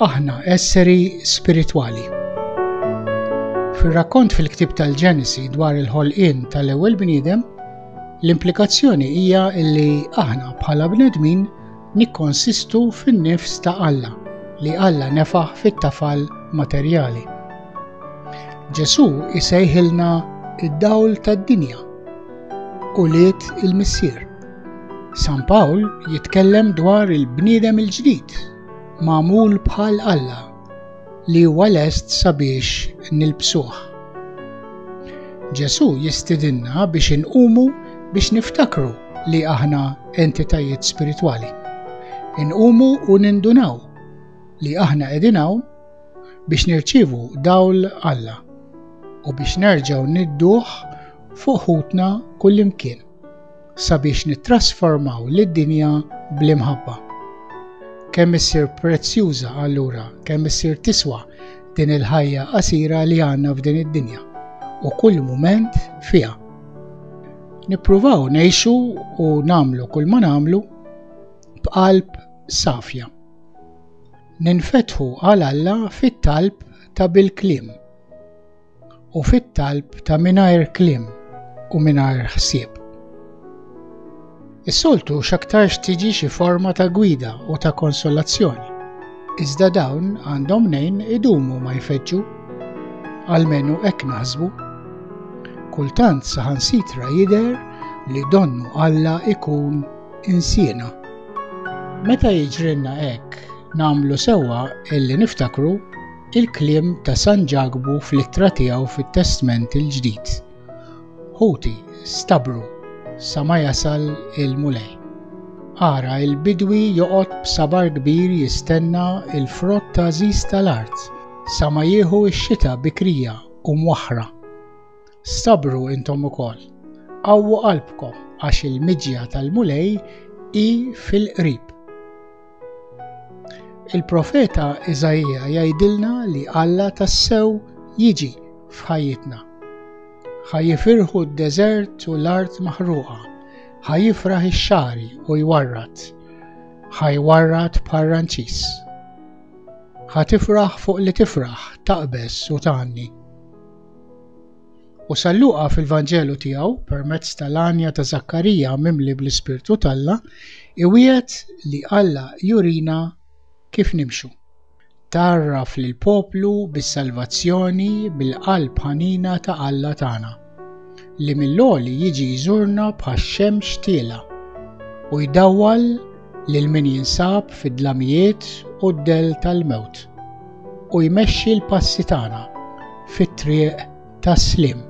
Aħna esseri spiritwali. Fir-rakkont fil-ktib tal-Ġenesi dwar il-ħolqien tal-ewwel bniedem, l-implikazzjoni hija li aħna bħala bnedmin nikkonsistu fin-nifs ta' Alla li Alla nefaħ fit-tafal materjali. Ġesu isejħilna id-dawl tad-dinja ulied il-Missier. San Pawl jitkellem dwar il-bniedem il-ġdid, magħmul bħal Alla, li huwa lest sabiex nilbsuh. Ġesù jistidinna biex inqumu biex niftakru li aħna entitajiet spiritwali. Inqumu u nindunaw li aħna qegħdin hawn biex nirċievu dawl Alla u biex nerġgħu nidduh fuq ħutna kullimkien sabiex nittrasformaw lid-dinja bl-imħabba. Kemm issir prezzjuża allura, kemm issir tiswa din il-ħajja qasira li għandna f'din id-dinja u kull mument fiha. Nippruvaw ngħixu u nagħmlu kull ma nagħmlu b'qalb safja. Ninfetħu għal Alla fit-talb ta' bil-kliem u fit-talb ta' mingħajr kliem u mingħajr ħsieb. Is-soltu x'aktarx tiġi xi forma ta' gwida u ta' konsolazzjoni, iżda dawn għandhom mnejn idumu ma jfeġġu, għalmenu hekk naħsbu. Kultant saħansitra jidher li donnu Alla jkun insiena. Meta jiġrilna hekk, nagħmlu sewwa illi niftakru il-kliem ta' San Ġakbu fl-ittra tiegħu fit-Testment il-Ġdid. Ħuti, stabru sa ma jasal il-Mulej. Ara il-bidwi joqgħod b'sabar kbir jistenna il-frott ta' żiż tal-art sa ma jieħu x-xita bikrija u mwaħħra. Sabru intom ukoll, qawwu qalbkom għax il-miġja tal-Mulej hi fil-qrib. Il-profeta Iżaija jgħidilna li Alla tassew jiġi f'ħajjitna. Ħa jifirħu d-deżert u l-art maħruqa, ħa jifraħ ix-xari u jwarrat, ħa jwarrat parranċis. Ħa tifraħ fuq li tifraħ, taqbeż u tgħanni. U San Luqa fil-Vanġelu tiegħu, permezz tal-għanja ta' Żakkarija mimli bl-Ispirtu t'Alla, iwiegħed li Alla jurina kif nimxu. Tgħarraf lill-poplu bis-salvazzjoni bil-qalb ħanina ta' Alla tagħna, li mill-għoli jiġi jżurna bħax-xemx tiela' u jdawwal lil min jinsab fid-dlamijiet u d-dell tal-mewt. u jmexxi l-passi tagħna fit-triq tas-sliem.